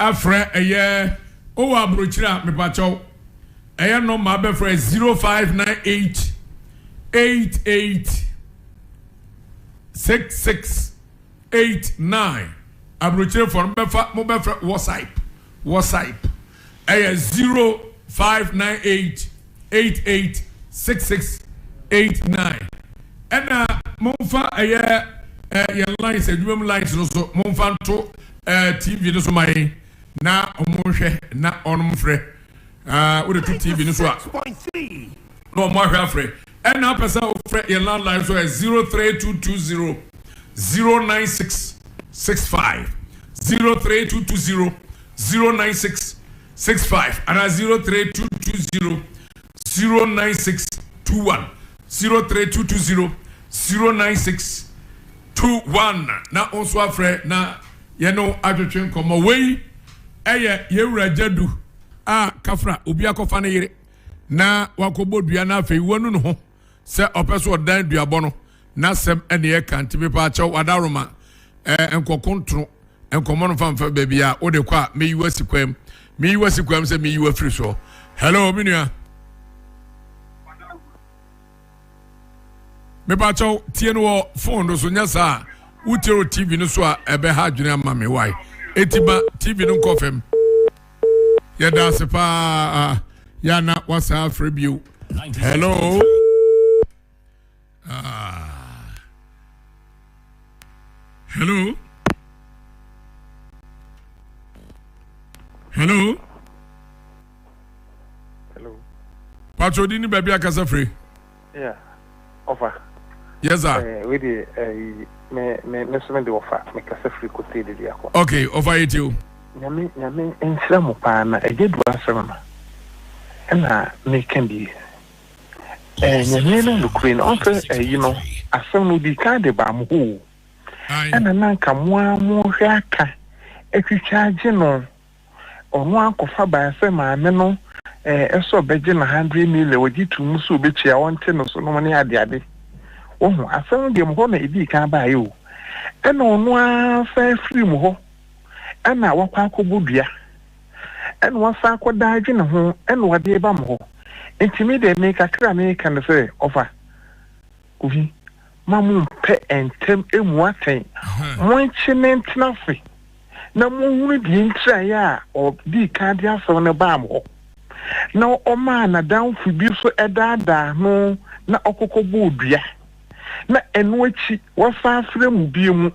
Afrɛ ɛyɛ o wɔ abrokyire a mepakyɛw ɛyɛ nɔmba abɛfrɛ zero five nine eight eight eight six six eight nine abrokyire fɔ no bɛfa mo bɛfrɛ wɔsaip wɔsaip ɛyɛ zero five nine eight. eight eight six six eight nine ɛna momfa ɛyɛ ɛɛ yɛn lines adwuma mu lines no so momfa nto ɛɛ tv no so ma yɛn na wɔn nhwɛ na wɔn mfrɛ ɛɛ wode to tv no so a na wɔn ahwɛ afrɛ ɛna apɛ sɛ wɔfrɛ yɛn landline so ɛ zero three two two zero zero nine six six five zero three two two zero zero nine six. Six five anaa zero three two two zero zero nine six two one zero three two two zero zero nine six two one na wɔn nso afrɛ na yɛn no atwetwe nkɔmɔ wei ɛyɛ yɛwura gyadu a kafra obi akɔfa ne yere na wakɔbɔ dua na afei wanu ne ho. sɛ ɔpɛ so ɔdan duabɔ no n'asɛm ɛne ɛka nti mepa akyɛw wadaroma ɛɛ eh, nkɔkontono nkɔmɔ no mfamfa baabi a wode kɔ a meyi wasi kwam meyi wasi kwam sɛ meyi wafiri soɔ hello me nua mepa akyɛw tie no wɔ fon no so nyɛ saa wotie wɔ tv no so a ɛbɛha adwene ama me wae ɛti ba tv no nkɔ fam yɛda ase paa yɛana wasaa afrɛ bio hello ah. hello hello patro di ne baabi akasa firi Yeah, ɔfa. Yes sir. Ɛɛ eh, wei de ɛyi eh, me me me so me de ɔfa me kasa firi kotee de de akɔ. Okay, ɔfa yɛ ti o. Nyame nyame nhyira mo paa na ɛgye du asɛm no ɛna meka bi. Ɛɛ eh, nyame no nukuri no ɔnsɛ ɛyi no asɛm no di kan de baa mo hɔ o. Ɛna nanka mo a mo hwɛ aka atwitwa agye no. ɔno ankɔfa bae sɛ maame no ɛɛ sɛ ɔbɛgye no hundred million, ɔgye too mu sɛ ɔbɛtua, ɔnte no so nom ne adeade. Wohu, asɛm no deɛ mu hɔ na ɛdii kan baeɛ o. Ɛna ɔno ara san firi mu hɔ, ɛna wakɔ akɔbɔ dua, ɛna wasan akɔda adwene ho, ɛna ɔde reba mo hɔ. Nti me deɛ me kakra a meka no sɛ, ɔfa, Obi, ma mo mpɛ ntɛm mmu atɛn, monkye ne ntena ase, na monhunu deɛ nti a yɛ a ɔdii kan de asɛm no baa mo hɔ, na ɔmaa n'adamfo bi nso daadaa no na ɔkɔkɔ bɔɔ dua, na ɛno akyi wasan afrɛ mo bio, na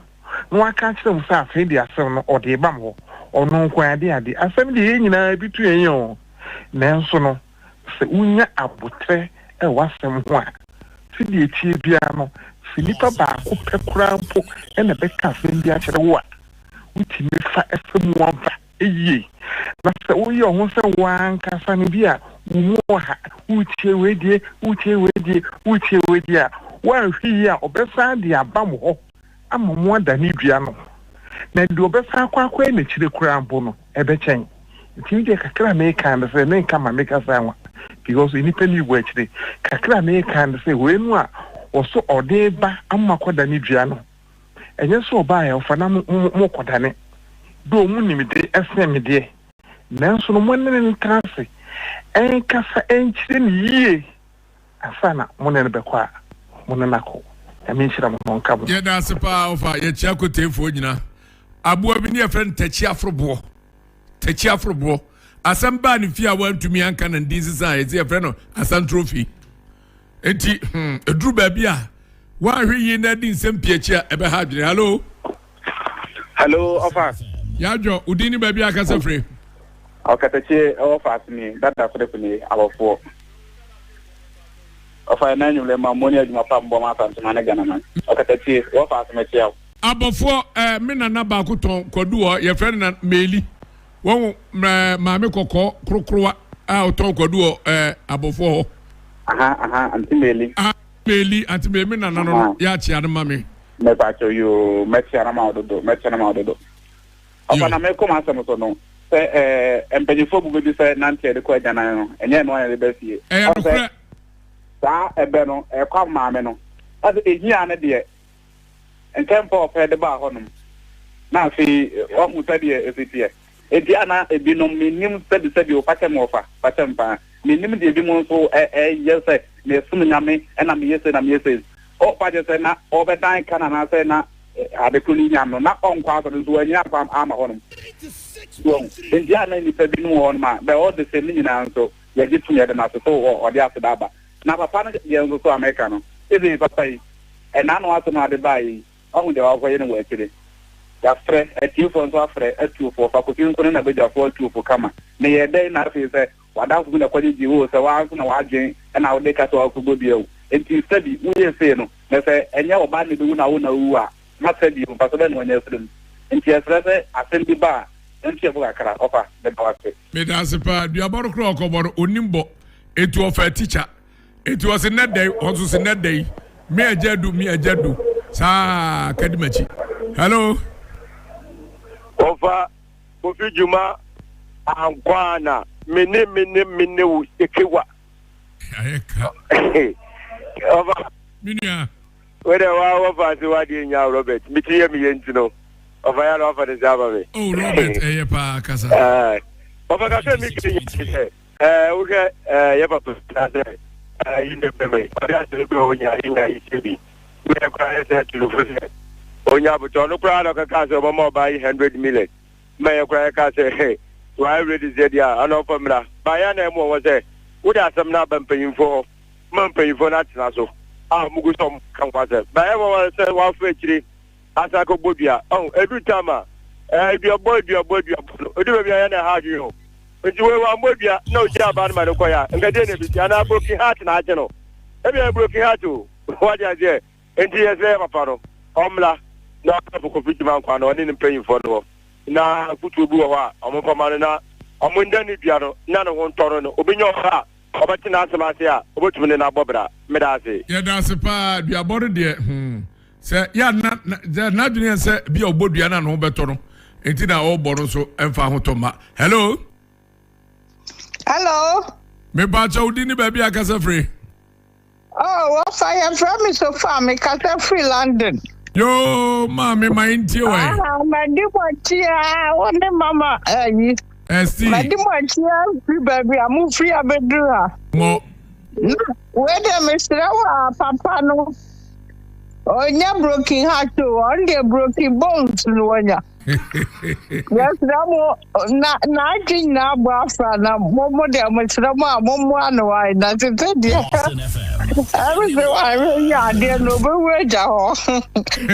waka akyerɛ mo sɛ afei deɛ asɛm no ɔde reba mo hɔ, ɔno nko ara de adeɛ. Asɛm deɛ yɛn nyinaa ebi to yɛn yɛn o, nanso no. sɛ wunya aboterɛ wɔ w'asɛm ho a, sɛdeɛ ɛteɛ biara no, sɛ nipa baako pɛ koraa mpo na bɛka asɛm bi akyerɛ wo a, wotumi fa fa mu ɔva yie. Na sɛ woyɛ wo ho sɛ wo ara ankasa no bi a, wo mu ɔha, woretie wei deɛ, woretie wei deɛ, woretie wei deɛ a, woanhwɛ yie a, ɔbɛsan de aba mo hɔ. ama mo ada ne dua no ho, na deɛ ɔbɛsan akɔ akɔyɛ n'akyire koraa mpo no, ɛbɛkyɛn. Nti medeɛ kakra a meeka ne sɛ, menka ma me kasa nwa, because nnipa nni wɔ akyire, kakra a meeka ne sɛ, wei no a wɔso ɔde reba ama moakɔda ne dua no, ɛnyɛ sɛ ɔbaa yɛ ɔfa na mo, mo, mo, mokɔdane, though mo nimde ɛsen me deɛ, nanso no mone no ntena ase, ɛnkasa ɛnkyerɛ no yie. Ansa na mo ne no bɛkɔ a, mo ne no akɔ. Nyame nhyira mo ma ɔnka mo. Yɛda ase paa ɔfa yɛkyia koteefoɔ nyina aboa bi ne yɛfrɛ no takyi aforoboɔ takyi aforoboɔ asɛm baa ne fie a wantumi anka na ndin sisan yɛsɛ yɛfrɛ no asantrofi nti hmm ɛduru baabi a wanhwe yie na adi nsɛm pii akyi a ɛbɛha adwene hallo hello ɔfa. yadwo odin ni baabi akasa firi. ɔkatakyie ɛwɔ faase ni dada kodeko ni abɔfoɔ ɔfa yɛ n'anyum lɛ ma mo ni adwuma pa mbɔ ma asantuma ne gana ma ɔkatakyie ɛwɔ faase mɛ kyia o. abɔfoɔ ɛɛ mi nana baako tɔn kwadu hɔ yɛ fɛ na meeli wɔn ɛɛ maame kɔkɔɔ korokorowa a ɔtɔn kwadu hɔ ɛɛ abɔfoɔ hɔ. aha aha nti meeli. Bailey, ante me me nana no no, yɛ akyea no ma me. Mɛpakyɛ yoo, mɛkyea no ma ɔdodo, mɛkyɛ no ma ɔdodo. Ɔfa na mekɔ m'asɛm so no, sɛ ɛɛ mpanyinfoɔ bu bɛbi sɛ nanteɛ de kɔ agyanan no, ɛnyɛ ɛno ayɛ de bɛ fie. Ɛyɛ nokorɛ. Saa ɛbɛ no, ɛkɔ amaame no. Ɔsɛ ehia no deɛ, ntɛmpɛ ɔpɛ de baa hɔnom. Na afei, wahu sɛdeɛ ɛsiteɛ. Ebia na ebinom nnim sɛbisɛbi o, fakyɛ me ɔfa, fakyɛ me paa. Mennim deɛ ebinom nso reyɛ sɛ meresom Nyame na meyɛ sei na meyɛ sei. Ɔfa gye sɛ na ɔbɛdan ka no anaasɛ na ade koro no yi nyam no, na ɔnkɔ asɔre nso wannyina akwan amma hɔnom. So wahu? Enti a na nnipa binom wɔ hɔnom a bɛ ɔde sɛ ne nyinaa nso yɛgye tom yɛde no ase sɛ o ɔde aseda aba. Na papa no deɛ nso so a meka no, ebia papa yi, ɛnaano asɛm a ɔde baeɛ yi, Wahu deɛ wakɔyɛ no wɔ akyire. Yɛafrɛ atiefoɔ nso afrɛ atuofoɔ, Fakosi nko ne na badwafoɔ atuofo kama. Meyɛɛ dɛn na afei sɛ w'adamfo bi na kɔgyegye wo o, sɛ woaa nso na w'adwene na wode ka sɛ wakɔbɔ dua o. Enti sa bi, woyɛ sei no, na sɛ ɛnyɛ wo ba na ɛbɛwu na wo na wowu a, ma sa bio, mfaso bɛn na wanya afiri mu? Enti yɛsrɛ sɛ asɛm bi ba a, yɛnto yɛn bo kakra. Ɔfa, meda wo ase. Meda ase paa. Dua bɔ no koraa ɔkɔbɔ no ɔnnim bɔ. Enti ɔfaa tikya. Enti ɔse nnɛ da yi, ɔnso se nnɛ da yi, me agya adu, me agya adu, saa kadi m'akyi. Hello? Ɔfa Kofi Dwuma ankwaana, me ne me ne me ne wo sekewa. Ayɛ ka. Ɔfa. Me nua. Wɛdɛ wa wɔfa ase wa deɛ nya Robert, me ti yɛ me yɛ nti no, ɔfa ya na wafa ne nsa ama me. Oh Robert, ɛyɛ paa kasa. Ɔfa kasa mi kiri yɛ sɛ. Ɛɛ, wohwɛ ɛɛ, yɛ papa bi na sɛ ɛɛ, yi ne bɛma yi, ɔde asɛm bi a ɔnya yi nya yi sɛ bi, woyɛ koraa yɛ sɛ tulufo sɛ ɔnya abotɔ, ɔno koraa na ɔkɛkaa sɛ ɔbɛma ɔbaa yi hundred million, ma yɛ koraa yɛkaa sɛ he, waayɛ ready sɛ deɛ a, ana ɔmfa mmra, baa yɛ ana ɛmoa wɔn sɛ, wode asɛm no aba mpanyimfoɔ hɔ, ma mpanyimfoɔ no atena so, a wɔgu sɛ wɔka ho asɛm, baa yɛ ɛmoa wɔn sɛ wɔafa akyire. Asan kɔ bɔ dua. Ɔho, ɛduru tam a, ɛɛ, aduabɔ, aduabɔ, aduabɔ no, ɔduru baabi a ɛyɛ na ɛha adwene o. Nti wei wammɔ dua na ɔgyina aba no ma no kɔeɛ a, nka deɛ na ɛbɛsi? Anaa broken heart na agye no? Ɛbi ayɛ broken heart o. Wate aseɛ? Nti yɛsrɛ yɛ papa no, ɔmmra na ɔmmra for Kofi Gyimah nkwa no, ɔne ne mpanyimfoɔ no hɔ, na afutuo bi wɔ hɔ a wɔmfa mma no, na wɔnda no dua no na ne ho ntɔ no no, ɔbɛnya ɔba a ɔbɛte n'asɛm ase a ɔbɛtumi ne no abɔ bra. Meda ase. Yɛda ase paa, aduabɔ no deɛ, hmm. Sɛ yɛ a na sɛ n'adwene yɛ sɛ bi a ɔbɔ dua na ne ho bɛtɔ no nti na ɔbɔ no nso mfa ho tɔ ma. Hello. Hello. Mepa akyɛ wodi ne baabi akasa firi. Oh, wɔfa yɛfrɛ me sofa mekasa firi London. Yoo maame ma ntie wɔ yi. Ah, madi mo akyia wo ne mama ayi. Eh, Esti. Madi mo akyia firi baabi a mo firi abɛduru ha. Mo. Wei deɛ mesrɛ wo a papa no. Ɔnyɛ broken heart o, ɔno deɛ broken bones no wɔnya. Yɛsrɛ mo na n'adwe nyinaa bɔ afra na mo mo deɛ mo srɛ mo a mo mmoa no wae na tete deɛ ɛmo sɛ wae bɛyɛ adeɛ na ɔbɛwu agya hɔ.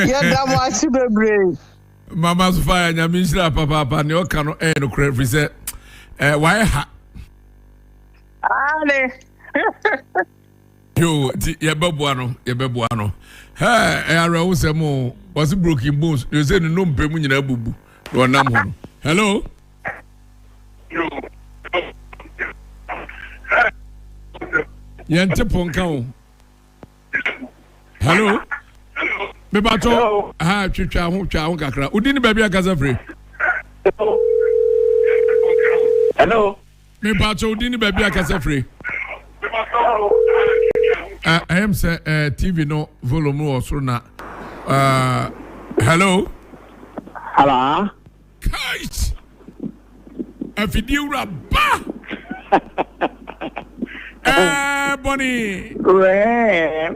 Yɛda mo ase bebree. Mama Sofia nyame nhyira papaapa nea ɔka no ɛyɛ no korɛ firi sɛ wae ha. Aane. yoo ti yɛbɛboa no yɛbɛboa no hɛɛ ɛyɛ awerɛho sɛm o wɔse broken bones na ɛsɛ ne nnompɛ mu nyinaa bubu na ɔnam hɔ no hello yɛnte po nka o hello mebatɔ ha twitwa ho twa ho kakra wodi ne baabi ankasa firi hello Me pa kyɛw din ne baabi a kasa firi. Ɛyɛ m sɛ TV no volume wɔ soro na hello. Hello. Kite. Afidie wura ba. Ɛɛ bɔnni. Wɛɛ.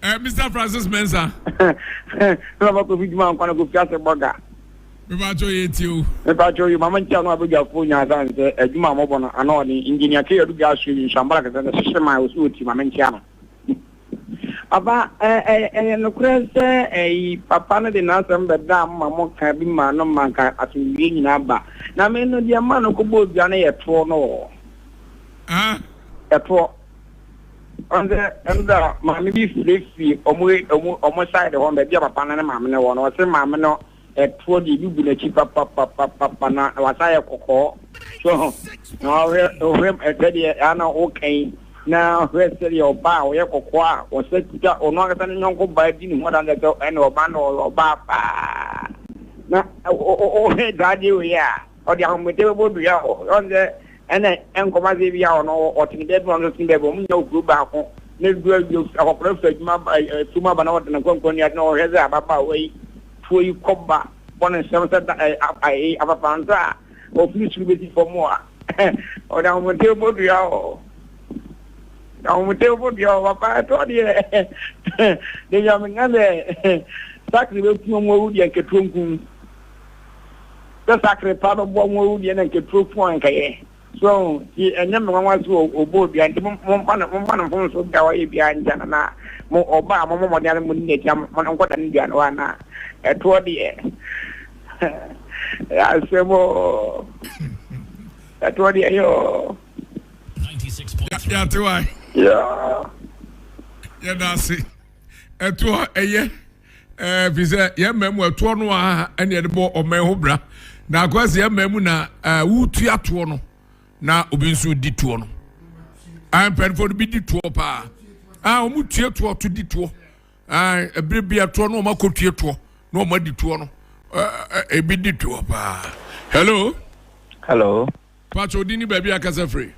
Eh, Mr. Francis Mensah. Na ma kofi juma nkwa na kofi ase boga. Me ba cho ye ti o. Me ba cho ye mama ntia no abeja fo nya za nse adwuma eh, mo bono ana oni engineer ke yadu ga su ni shambara ke se sheshe ma o su oti mama ntia no. Papa eh eh eh no kure se eh papa no de na asem be da ma mo ka bi ma no ma ka asumdwe nyina ba. Na me no de ma no ko bo dua no ye to no. Ah. Eto. Ɔnse ɛno da maame bi firi fi ɔmo ɔmo ɔmo side hɔ baabi a papa no ne maame no wɔ no ɔse maame no ɛtoɔ deɛ ebi gu n'akyi papapapapa na wasa yɛ kɔkɔɔ so ho na ɔhwɛ ɔhwɛ ɛsɛdeɛ ana ɔka yi na ɔhwɛ sɛdeɛ ɔbaa a ɔyɛ kɔkɔɔ a ɔsɛ kuta ɔno ankasa ne nyɔnko baa di ne ho adandeɛ sɛ ɛna ɔbaa na ɔyɛ ɔbaa paa na ɔhwɛ daadeɛ wei a. Ɔde ahomete bɛbɔ dua hɔ. Ɔn sɛ ɛnɛ nkɔm ase bi a ɔno ɔte ne bɛɛbi ma ɔno te bɛɛbi ɔmo nya okuro baako na edu awie akɔkora fɛ adwuma ba efum aba na ɔte ne nkɔnkɔn ni ade na ɔhwɛ sɛ ababaawa yi tuo yi kɔba bɔ ne nsɛm sɛ da ɛɛ ɛɛ apapansa a ɔfiri soro bɛsi fam a ɔde ahomete bɛbɔ dua hɔ ahomete bɛbɔ dua hɔ papa ɛtɔ deɛ deɛ nyame ka sɛ sakre bɛku ɔmo awu deɛ nketewa nkum sɛ sakre pa bɛboa mo awu deɛ na nka turo fo anka yɛ so nti ɛnyɛ me nwanwa so ɔbɔ obia nti momma no momma no mfom so bia ɔyɛ bia nti na na mo ɔba a mo mo mɔden mo nni n'akyi mo no nkɔda no dua no hɔ na ɛtoɔ deɛ asɛm o ɛtoɔ deɛ yɛ o yɛate wa yɛda ase ɛtoɔ ɛyɛ ɛɛ fi sɛ yɛn mmaa mu ɛtoɔ no a ɛna yɛde bɔ ɔman ho bra na akɔyɛ sɛ yɛn mmaa mu na ɛɛ wotua toɔ no na obi nso di toɔ no ɛɛ mpanyinfoɔ no bi di toɔ paa ɛɛ wɔn tue toɔ to di toɔ ɛɛ ebire bi ɛtoɔ no wɔn akɔ tue toɔ na wɔn adi toɔ no ɛɛ ebi di toɔ paa hello. hello. Pacho di ni baabi a kasa firi.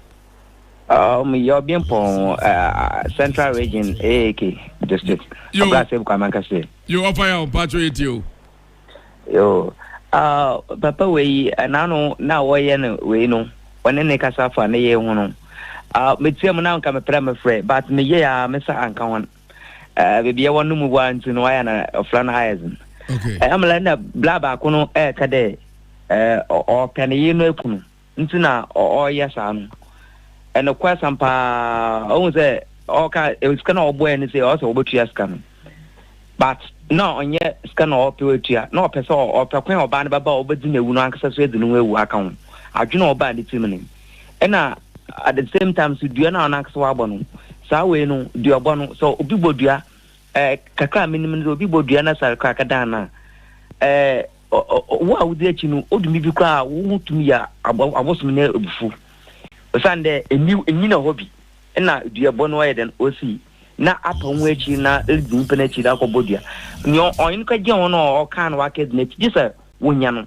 Um, yɛ ɔbiɛmpɔn uh, central region aak district ɔbra sɛ bukwa mankase yo ɔfa ya ɔmpa atwo yɛ tie o yo uh, papa wei ɛnaano na wɔyɛ no wei no ɔne ne kasa fa ne yɛ ho no uh, metia mu na nka meprɛ mefrɛ but meyɛ a mesa anka ho eh, baabi ɛwɔ no mu wa nti no wayɛ na ɔfra no ayɛ dzen ɛmla eh, na bla baako no ɛɛka eh, dɛ eh, ɔpɛ ne yere no akunu nti na ɔyɛ saa no ɛnokorɛ sam paa ɔhu sɛ ɔka sika na ɔbɔɛ no sɛ ɔsɛ wɔbɛtua sika no but na ɔnyɛ sika na ɔpɛ watua na ɔpɛ sɛ ɔpɛ kwan ɔbaa no bɛba a ɔbɛdi no awu no ankasa so adi no ho awu aka ho adwene ɔbaa ne tirim no ɛna at the same time so dua na ɔnankasa wabɔ no saa wei no dua ɔbɔ no sɛ obi bɔ dua ɛɛ kakra menim no sɛ obi bɔ dua na sare kora kadan na ɛɛ wo a wodi akyi no odumi bi koraa wo ho tumi yɛ abosom ne ebufu osiane dɛ emi enyina hɔ bi ɛna dua bɔ no ɔyɛ dɛn osi na apa ho akyi na edi nipa n'akyi na akɔbɔ dua nea ɔyɛ no kagye ho no ɔka no waka di n'akyi gye sɛ wonya no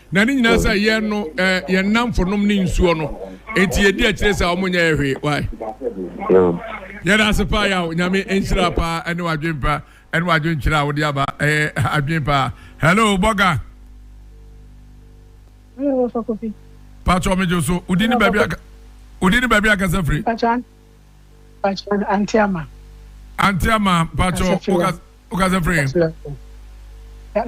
Na ne nyinaa sɛ yɛn no eh, yɛn nnamfo nom ne nsuo no, enti yɛdi akyire sɛ wɔn nyɛɛ hwee. Why? Yɛda ase paa yaw nyame nhyira paa ɛne wadwen pa ɛne wadwen kyerɛ a wode aba ɛyɛ eh, adwen paa hello bɔga patro megye so wodi ne baabi aka wodi ne baabi akasa firi Pakyɛ anti ama. Anti ama pakyɛ o kasa firi.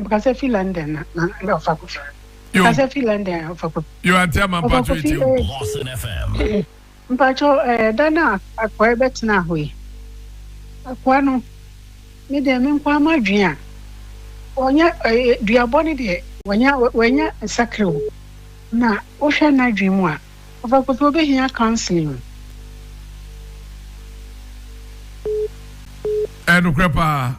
Kasa firi London na na ɔfa kɔ firi. Yo. Kasa firi London na ɔfa kɔ. Yo anti ama pakyɛ eti o. Boston FM. Mpakyɛ ɛɛ dan a akɔɛ bɛ tena hɔ yi. Akɔa no ne deɛ me nkɔ ama dwen a. Wɔnyɛ ɛɛ duabɔ ne deɛ wɔnyɛ wɔnyɛ nsakere o. Na wohwɛ n'adwen mu a Ɔfakor pɛ obehia counselling. Ɛyɛ nokorɛ paa.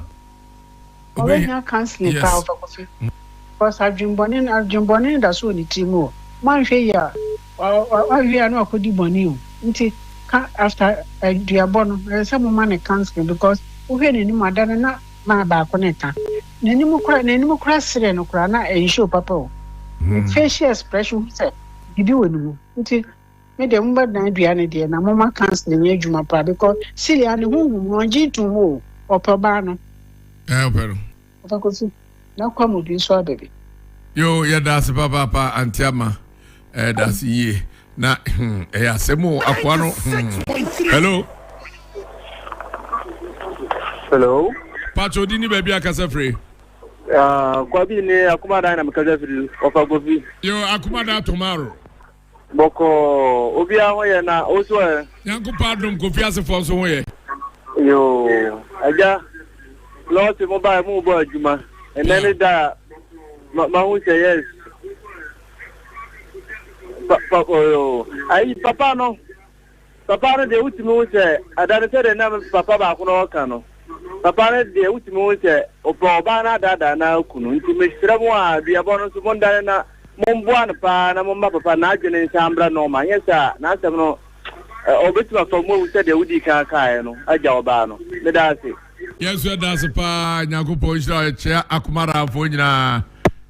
Ɔbɛhia counselling paa ɔfakor pɛ because adwen bɔne no adwen bɔne no da so wɔ ne tiri mu o, moanhwɛ yie a ɔwie a na wakɔdi bɔne o nti ka after aduabɔ no ɛsɛ sɛ moma no counselling because wohwɛ n'anim a da no na mile baako na ɛka n'anim koraa n'anim koraa serɛ no koraa na ɛnhyɛ o papa o, facial expression wohu sɛ. Gyidi wɔ ne mu nti, me deɛ mobɛdan adua no deɛ na moma counseling nyɛ adwuma paa because Celia ne honhom no ɔngye ntom o, ɔpɛ ɔbaa no. Ɛɛ ɔpɛ no. Ɔpɛ Kofi. Na kwa mu bi nso aba bi. Yoo yɛda ase papaapa Aunty Ama ɛda ase yie na hmm ɛyɛ asɛm o akoa no hmm hello. Hello. Pacho di ni baabi akasa firi. Kwabi ne Akumada na mekasa firi ɔfa Kofi. Yo Akumada Tomaro. Bɔkɔ obiara ho yɛ na o so ɛ. Nyankopɔn adom Kofi asefoɔ nso ho yɛ. Yo agya lɔɔte mo baa mu bɔ adwuma ɛnɛ ne da a mahu sɛ yes. Pa, pa, oh, ayi papa no Papa no deɛ wotumi hu sɛ ɛda no sɛdeɛ na papa baako no ɔka no papa no deɛ wotumi hu sɛ ɔpɛ ɔbaa no adaadaa no ara kunu nti mesrɛ mo a duabɔ no nso mondane na momboa no paa na momma papa no n'adwene nsan mbra nɔɔma anyɛ saa a n'asɛm no ɔbɛtumi afa mu awu sɛdeɛ wodii kan kaeɛ no agya ɔbaa no meda ase. Yɛn nso yɛda ase paa Nyankopɔn nhyira wo yɛkyea Akomaraafoɔ nyinaa.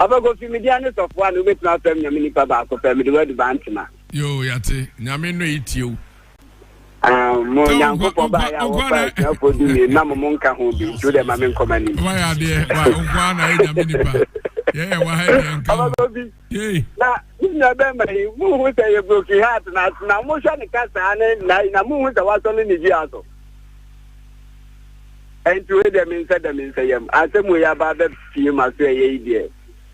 Ɔfa kofi media ne sɔfoɔ a na wobɛtumi afam nyame nipa baako pɛ mede wadu ba ntena. Yoo yate nyame no etie o. Um, mo nyankopɔn ba ya wo fa asuafo du mi na mo mo nka ho bi nti wode ma me nkɔma ni wa ya de wa nkwa na e nyame nipa ye ye wa ha de nka ho ye na na be ma yi mo hu sɛ ye broken heart na na mo hwɛ ne kasa ne na na mo hu sɛ wasɔ ne ne dua so ɛnti wei deɛ me nsɛ dɛ me nsɛ yam asɛm wei aba bɛ pie ma so ɛyɛ yi deɛ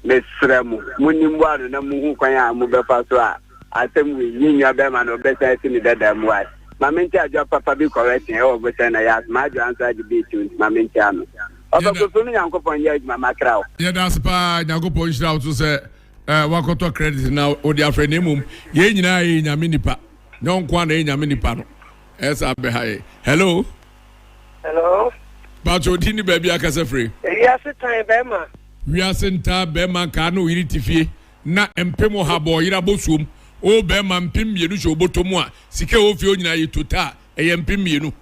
mesrɛ mo mo nim boa no na mo hu kwan a mo bɛfa so a asɛm wei yɛ nwa bɛma no ɔbɛsan asi ne dada mu ase ma me nti adwa papa bi correction ɛwɔ bo sɛ na yɛ asoma adwa nso agye bi ti nti ma me nti ano ɔbɛkoso no nyankopɔn yɛ adwuma makra wo yɛda ase paa nyankopɔn nhyira wo so sɛ eh, wakɔtɔ credit na wode afrɛ na mmom yɛn nyinaa yɛ nyame nipa nyɛ ɔnko a na yɛ nyame nipa no Ɛsa bɛha yɛ. Hello. Hello. Bàtò òdi ni baabi akasa firi. Wiase tan bɛrima. Wiase ntaa bɛrima nkaa na oyiri ti fie na mpem ɔha bɔ ɔyere abosuom. O bɛrima mpem mmienu hyɛ oboto mu a sika ɛwɔ fie onyina yɛ tota a ɛyɛ mpem mmienu.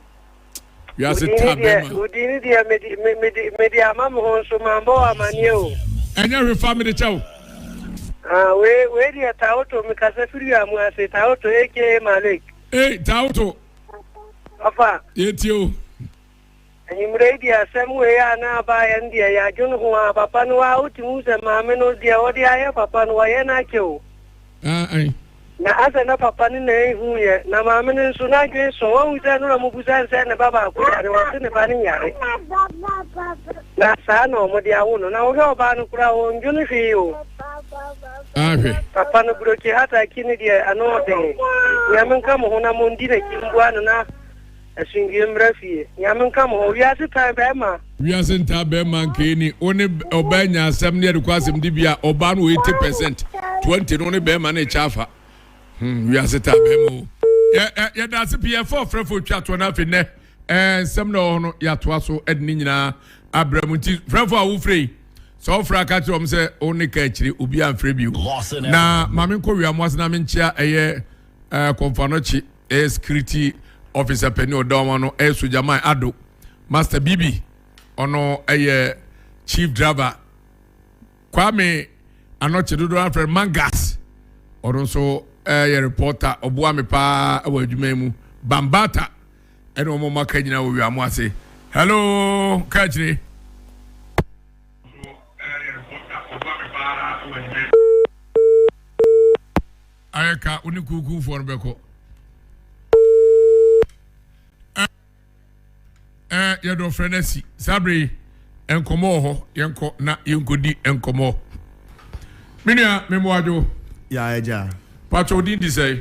Wiase taa bɛrima. Odi ni deɛ medi medi medi ama mo ho nso maa mbɔ amaneɛ o. Ɛnyɛ hwe fa mede kyɛw. Ah, wei wei deɛ tawoto mekasa firi amu ase tawoto aka malik. Ee, Tawoto. Ɔfa. Yɛtie o. Anwummerɛ yi deɛ asɛm wei a na aba yɛn deɛ yɛadwene ho a papa no a wotumi hu sɛ maame no deɛ ɔde ayɛ papa no wayɛ no akyɛ o. Ae. Na asɛ na papa no na ehu yɛ na maame no nso n'adwene sɔ wahu sɛ no na mubusa nsɛ ne ba baako yare wɔse ne ba no nyare na saa na wɔde awo no na wohwɛ ɔbaa no koraa wɔndwene hwee o. ahwɛ. Papa no brokye hata akyi no deɛ ano ɔden. Nyame nka mo ho na mo ndi n'akyi mboa no na asundue mmra fie. Nyame nka mo ho. Wiase tan bɛɛma. Wiase ntaa bɛɛma nkeeni. Wo ne ɔbaa nya asɛm ne yɛde kɔ asɛm di bia ɔbaa no 80% 20 no ne bɛɛma ne kyɛ afa. Hmm, wiase taa bɛɛma o. Yɛda ase pii yɛfa ɔfrɛfo twa toɔ no afei nnɛ nsɛm na ɔhɔ no yɛatoa so ɛde ne nyinaa abrɛ mu nti frɛfo a wofrɛ yi Sɛ ɔfrɛ a, ka kyerɛ wɔn sɛ wo ne ka akyire, obi amfrɛ bio. Na maame nkɔ wia mo ase na menkyea ɛyɛ ɛɛ kɔnfanɔkye ɛyɛ security officer panyin ɔda wɔn ano ɛyɛ sogyaman ado master bibi ɔno ɛyɛ chief driver kwame anɔkye dodoɔ afrɛ mangas ɔno nso ɛyɛ reporter ɔboa me paa ɛwɔ adwuma yi mu bambata. Ɛna ɔmo ma ka nyinaa wɔ wia mo ase hello ka akyire. Ayɛ ka wo ne kuukuu foɔ no bɛkɔ. Ɛɛ yɛde ɔfrɛ no asi saa bere yi nkɔmɔ wɔ hɔ yɛnkɔ na yɛnkɔdi nkɔmɔ. Menua memoadwo. Yɛ agya. Patro din di sɛe.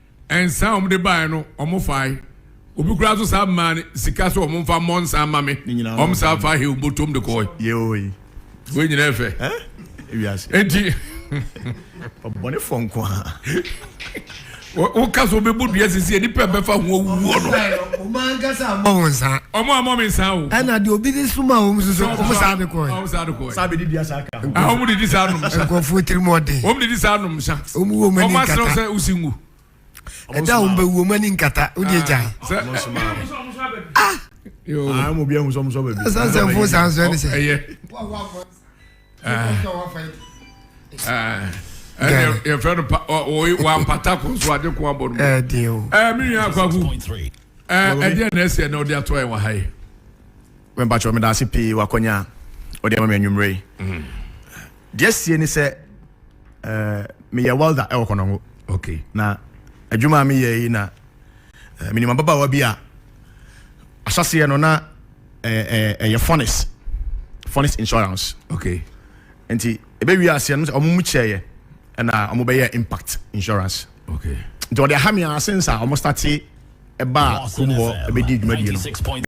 Nsa a wɔde baeɛ no, wɔfae. Obi koraa nso san maa no sika sɛ wɔmfa mmɔ nsa mma me. Wɔsan faa hew botom de kɔe. Yoi. Wei nyinaa yɛ fɛ. Eh? Ewiase. Enti. Ɔbɔnefoɔ nko a. woka so wobɛbɔ dua sisi nipa bɛfa ho awuo no ɔmo ankasa ammɔ ho nsa ɔmo ammɔ me nsa o ɛna deɛ obi de soma wɔm so so ɔmo saa de kɔɛ wɔn didi saa nom nsa nkurɔfoɔ tirim ɔden wɔn didi saa nom nsa wɔn wɔ wɔn ani nkata wɔn asrɛ sɛ osi ngu. ɛda a wɔn bɛ wu wɔn ani nkata o de gya. ah yoo ah mo bi ehun sɔmu sɔ baabi. ɛsan sɛ fo san sɔ ɛni sɛ. ɛyɛ ɛyɛ yɛ fɛn no pa ɔyi wa mpata ko nso adi ko abɔ no. ɛɛ den o. ɛɛ mi nua akwaku ɛɛ ɛdi yɛ na ɛsɛ na ɔdi atɔ yɛ wɔ ha yi. Mepakyɛw, medaase pii wɔ akɔnya a wɔde ama me anwummere yi. Deɛ asie ne sɛ, eh, meyɛ welder ɛwɔ Konongo. Okay. Na adwuma a meyɛ yi na eh, menim ababaawa bi a ahyɛseɛ no na ɛyɛ eh, eh, eh, eh, furnace, furnace insurance. Okay. Nti ɛbɛwie aseɛ no sɛ ɔmo mu kyɛeɛ ɛna ɔmo bɛyɛ impact insurance. Okay. Nti ɔde aha me ase nsa ɔmo starte ɛbaa kurom hɔ ɛbɛdi dwumadie no.